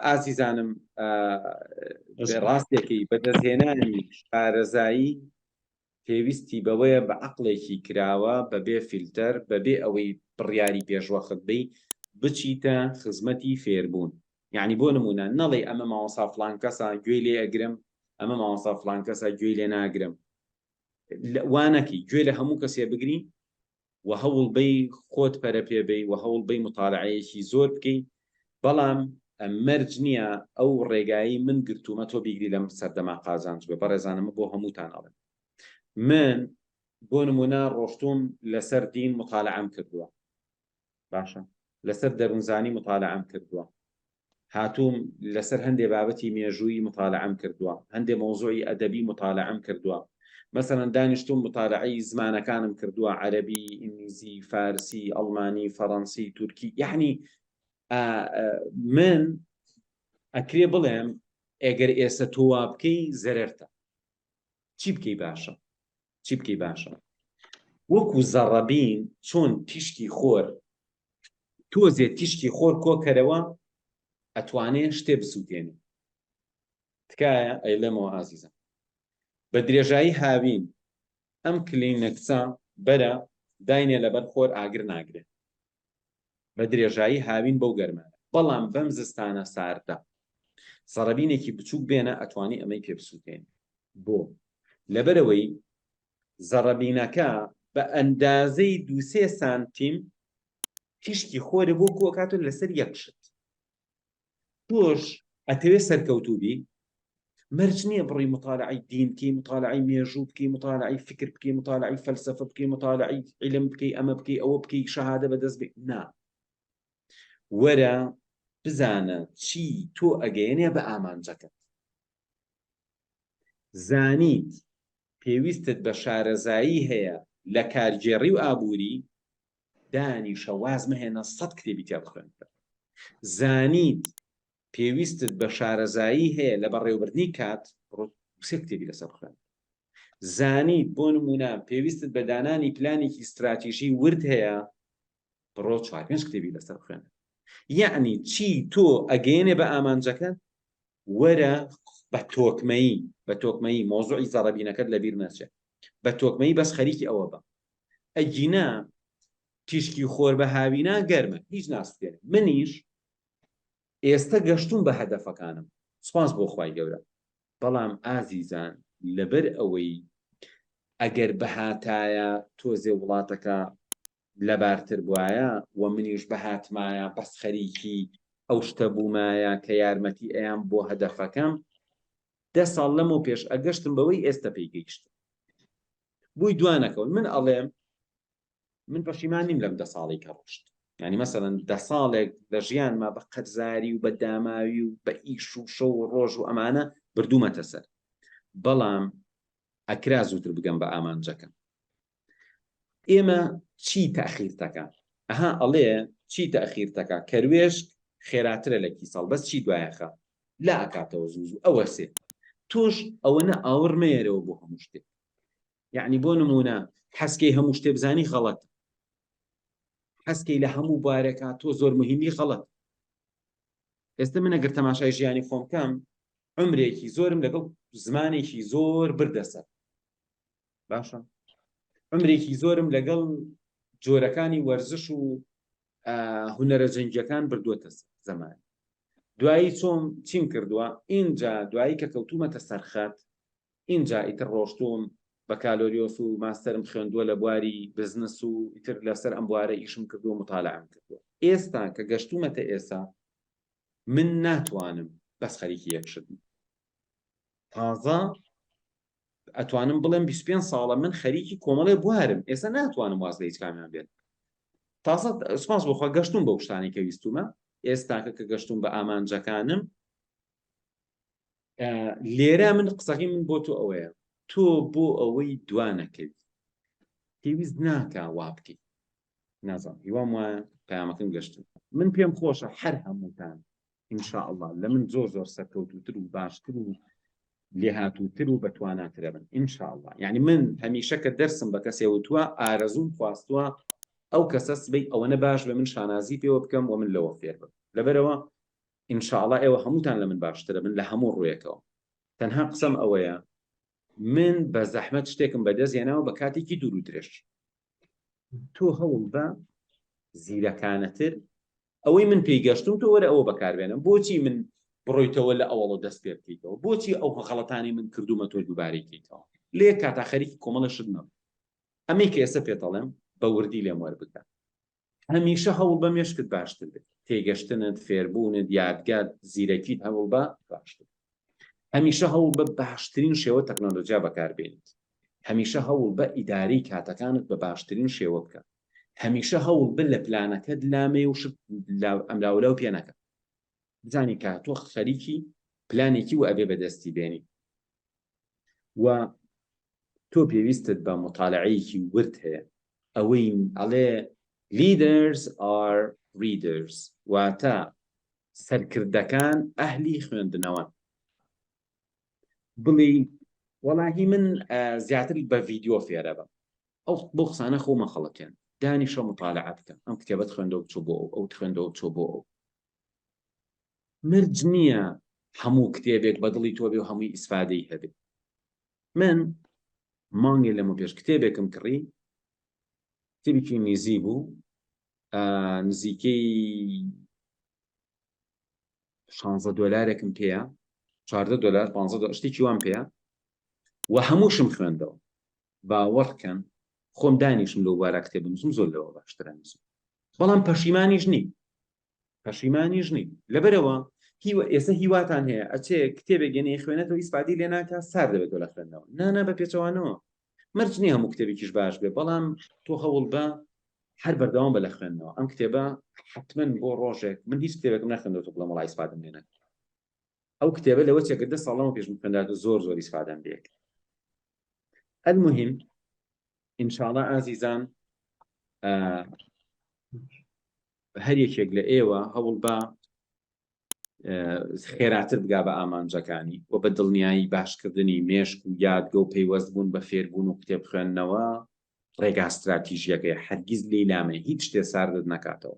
ئازیزانم ڕاستێکی بەدەستهێنانی شارەزایی پێویستی بەوەیە بە عقلێکی کراوە بەبێ فیلتەر بەبێ ئەوەی بڕیاری پێشوەخت بی بچیتە خزمەتی فێربوون یعنی بۆ نمونە نەڵی ئەمە ماوەسا فلان کەسا گوێی لێ ئەگرم ئەمە ماوەسا فلان کەسا گوێی لێ ناگرم وانەکی گوێ لە هەموو کەسێ بگرین و هەوڵ بەی خۆت پەرە پێ بەی و هەوڵ بەی موتالەعەیەکی زۆر بکەی بەڵام مەرج نییە ئەو ڕێگایەی من گرتوومە تۆ بیگری لەم سەردەما قازانج بێ بەڕێزانە من بۆ هەمووتان ئەڵێم من بۆ نموونە ڕۆشتووم لەسەر دین موتالەعەم کردووە باشە لەسەر دەروونزانی مطالعەم کردووە هاتووم لەسەر هەندێ بابەتی مێژووی مطالعەم کردووە هەندێ مەوزوعی ئەدەبی مطالعەم کردووە مەسەرەن دانیشتوم مطالعەی زمانەکانم کردووە عەربی ئینگلیزی فارسی ئەڵمانی فەڕەنسی تورکی یعنی من ئەکرێ بڵێم ئەگەر ئێستا تۆوا بکەی زەرەرتە چی بکەی باشە چی بکەی باشە وەکو زەڕەبین چۆن تیشکی خۆر تۆزێ تیشکی خۆر کۆکەرەوە ئەتوانێ شتێ بسووتێنی تکایە ئەیلێمەوە ئازیزە بە درێژایی هاوین ئەم کلینەکسە بەرە داینێ لەبەر خۆر ئاگر ناگرێت بە درێژایی هاوین بەو گەرمانە بەڵام بەم زستانە ساردە زەڕەبینێکی بچووک بێنە ئەتوانی ئەمەی پێ بسووتێن بۆ لەبەرەوەی زەڕەبینەکە بە ئەندازەی دوسێ سانتیم تیشکی خۆرە بۆ کۆکاتون لەسەر یەکشت تۆش ئەتەوێ سەرکەوتوو بی مەرج نییە بڕی مطالعی دین بکەی مطالعی مێژوو بکەی مطالعی فکر بکەی مطالعی فەلسفە بکەی مطالعی علم بکەی ئەمە بکەی ئەوە بکەی شەهادە بەدەست بێ نا وەرە بزانە چی تۆ ئەگەیەنێ بە ئامانجەکەت زانیت پێویستت بە شارەزایی هەیە لە کارگێڕی و ئابووری دانیشە واز مەهێنە سەد کتێبی تیا بخوێن زانیت پێویستت بە شارەزایی هەیە لە بەڕێوبردنی کات سێ کتێبی لەسەر بخوێن زانیت بۆ نمونە پێویستت بە دانانی پلانێکی استراتیژی ورد هەیە بڕۆ چوار پێنج کتێبی لەسەر بخوێن یعنی چی تۆ ئەگەێنێ بە ئامانجەکە وەرە بە تۆکمەیی بە تۆکمەیی مۆزوعی زەڕەبینەکەت لەبیر نەچێ بە تۆکمەیی بەس خەریکی ئەوە بە ئەگینا تیشکی خۆر بە هاوینا گەرمە هیچ ناسوێنێ منیش ئێستا گەشتون بە هەدەفەکانم سپاس بۆ خی گەورە بەڵام ئازیزان لەبەر ئەوەی ئەگەر بهاتایە تۆزێ وڵاتەکە لەبارتر بوایە و منیش بهاتمایە بەس خەریکی ئەو شتە بومایە کە یارمەتی ئەیام بۆ هەدەفەکەم دە ساڵ لەمەو پێش ئەگەشتم بەوەی ئێستە پێی گەیشتم بووی دوانەکەون من ئەڵێم من پەشیمان نیم لەم دە ساڵی کە ڕۆشت ینی مەسەن دە ساڵێک لە ژیانما بە قەرزاری و بە داماوی و بە ئیش و شە و ڕۆژ و ئەمانە بردوومەتە سەر بەڵام ئەکرا زووتر بگەم بە ئامانجەکەم ئێمە چی تاخیر تەکە ئەها ئەڵێ چی تاخیر تەکە کەروێشک خێراترە لە کیسەڵ بەس چی دوایەخە لا ئەکاتەوە زوو ئەوە سێ تۆش ئەوەنە ئاوڕ مەیەرەوە بۆ هەموو شتێک یعنی بۆ نمونە حەسکەی هەموو شتێ بزانی غەڵەت حەسکەی لە هەموو بارەکە تۆ زۆر مهمی غەڵەت ئێستا من ئەگەر تەماشای ژیانی خۆم کەم عمرێکی زۆرم لەگەڵ زمانێکی زۆر بردەسەر باشە عمرێکی زۆرم لەگەڵ جۆرەکانی وەرزش و هوەرە جەنگیەکان بردووەتە زەمان دوایی چۆم چیم کردووە ئینجا دوایی کە کەوتومەتە سەرخەت ئینجا ئیتر ڕۆشتوم بە کالۆریۆس و ماستەرم خوێندووە لە بواری بزنس و ئیتر لەسەر ئەم بوارە ئیشم کردو مطالعام کردووە ئێستا کە گەشتومەتە ئێسا من ناتوانم بەس خەریکی یەکشتم تازە ئەتوانم بڵێم بیست و پێنج ساڵە من خەریکی کۆمەڵێ بوارم ئێستا ناتوانم واز لە هیچ کامیان بێت تازە سپاس بۆخوا گەشتوم بە شتانی کە ویستومە ئێستاکە کە گەشتوم بە ئامانجەکانم لێرە من قسەکەی من بۆ تۆ ئەوەیە تۆ بۆ ئەوەی دوانەکەوی پێویست ناکە وا بکەیت نازانم هیوام وایە پامەکەم گەشتن من پێم خۆشە هەر هەمووتان ان شاء اللە لە من زۆر زۆر سەرکەوتوتر و باشتر و لێهاتووتر و بەتواناترە بن ان شاء اللە یعنی من هەمیشە کە دەرسم بە کەسێ وتووە ئارەزوم خواستووە ئەو کەسە سبەی ئەوەنە باش بە من شانازی پێوە بکەم و من لەوە فێر بم لەبەرەوە ان شاء اللە ئێوە هەمووتان لە من باشترە بن لە هەموو ڕوویەکەوە تەنها قسەم ئەوەیە من بە زەحمەت شتێکم بەدەست هێناوە بە کاتێکی دوور و درێژ تۆ هەوڵ بە زیرەکانەتر ئەوەی من پێی گەشتوم تۆ وەرە ئەوە بەکاربێنە بۆچی من بڕۆیتەوە لە ئەوەڵە دەست پێ بکەیتەوە بۆچی ئەو غەڵەتانی من کردومە تۆ دووبارەی کەیتەوە لێ کاتا خەریکی کۆمەڵە شت نەبوو ئەمەی کە ئێستا پێتەڵێم بە وردی لێم وەربگە هەمیشە هەوڵ بە مێشکت باشتر بێت تێگەشتنت فێربوونت یادگات زیرەکیت هەوڵ بە باشتر هەمیشە هەوڵ بە باشترین شێوە تەکنۆلۆژیا بەکاربێنیت هەمیشە هەوڵ بە ئیداری کاتەکانت بە باشترین شێوە بکە هەمیشە هەوڵ بە لە پلانەکەت لامێ و شت ئەملاولاو پێ نەکە بزانی کە تۆ خەریکی پلانێکی و ئەبێ بەدەستی بێنی و تۆ پێویستت بە مطالعەیەکی ورد هەیە ئەوەی ئەڵێ leaders are readers واتە سەرکردەکان ئەهلی خوێندنەوەن بڵی وەڵاهی من زیاتر بە ڤیددیو فێرە بم ئەو بۆ قسانە خۆمە خەڵەتێن دانی شە مطالع بکەم ئەم کتێبەت خوێندە و چۆ بۆ ئەو خوێندە و چۆ بۆ ئەو مرج نییە هەموو کتێبێک بە دڵی تۆبێ و هەمووی ئیسفادەی هەبێ من مانگێ لەمە پێش کتێبێکم کڕی کتێبێکی نیزی بوو نزیکەی شانزە دۆلارێکم پێەیە چاردە دۆلار پ شتێکی وام پێەیە و هەمووشم خوێندەوە باوەڕکەن خۆم دانیشم لەو بارە کتێ بنووسم زۆر لەوە باشترنووسم بەڵام پەشیمانیش نی پەشیمانیش نی لەبەرەوە هیوە ئێستا هیواتان هەیە ئەچێ کتێبێک گەێنەی خوێنێتەوە ئیسپادی لێ ناکە سار دەبێتەوە لە خوێندنەوە نانا بە پێچەوانەوە مەرج نییە هەموو کتێبێکیش باش بێ بەڵام تۆ هەوڵ بە هەر بەردەوام بە لە خوێندنەوە ئەم کتێبە حتممە بۆ ڕۆژێک من هیچ کتێبێکم نەخندەوە بڵم وڵی سپادم لێنە ئەو کتێبە لەوە چێکردە ساڵەوە پێشم خوێندات و زۆر زۆری سپادەم لێک هەر مهم ئینشاڵە ئازیزان هەر یەکێک لە ئێوە هەوڵ بە خێراتر بگا بە ئامانجەکانی و بە دڵنیایی باشکردنی مێشک و یادگە و پەیوەست بوون بە فێربوون و قوتێب خوێندنەوە ڕێگاستراتیژیەکەی هەرگیز لی لامێ هیچ شتێ ساردت نەکاتەوە